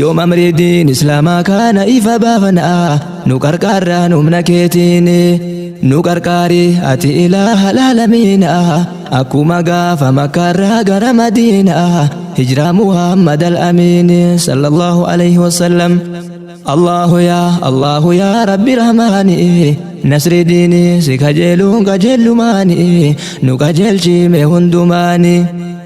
Yoom amrii diin islaamaa kaana ifa baafana nu qarqaarraan humna keetiin nu qarqaari ati ilaaha laalamiina akkuma gaafa makkaarraa gara madiina hijraa muhammad al-amiin sallallahu alayhi wasallam Allahu yaa Allahu yaa rabbi rahmaani nasri diini si kajeeluun kajeellumaani nu kajeelchiime hundumaani.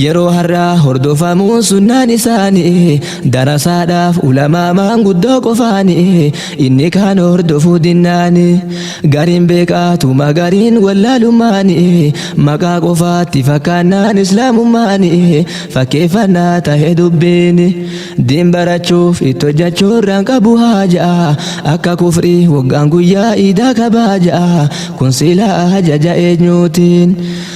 Yeroo har'aa hordofamuun sunnaan isaanii darasaadhaaf ulamaa maanguddoo qofaanii inni kaan hordofuu dinnaanii gariin beekaatuma gariin wallaalummaanii maqaa qofaatti fakkaannaan islaamummaanii fakkeeffannaa tahe dubbiini diin barachuuf itti hojjechuurraan qabu haajaa akka kufrii waggaan guyyaa iidaa kabaaja kun silaa ajaja eenyuutiin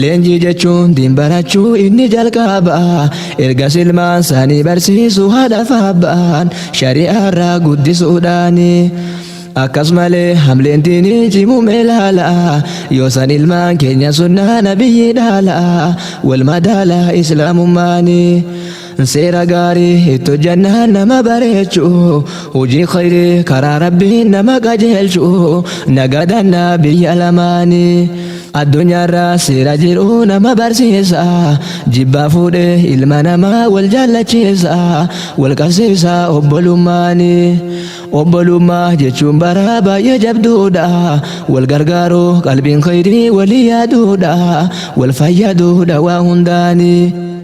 Leenjii jechuun diin barachuu inni jalqaba erga silmaan saanii barsiisu haadha faabbaan shari'aarraa guddisuudhaani. Akkas malee hamleen diinii cimumee laala yoo san ilmaan keenya sunnaa nabiyyi dhaala wal madaala islaamummaani. Seera gaarii itti hojjannaan nama bareechu hojii khayrii karaa rabbiin nama qajeelchu nagadanna biyya lamaani addunyaarra seera jiru nama barsiisa jibbaa fuudhee ilma namaa wal jaallachiisa wal qabsiisa obbolummaani obbolummaa jechuun bara baay'ee jabduudha wal gargaaru qalbiin khayrii walii yaaduudha wal fayyaduudha waa hundaani.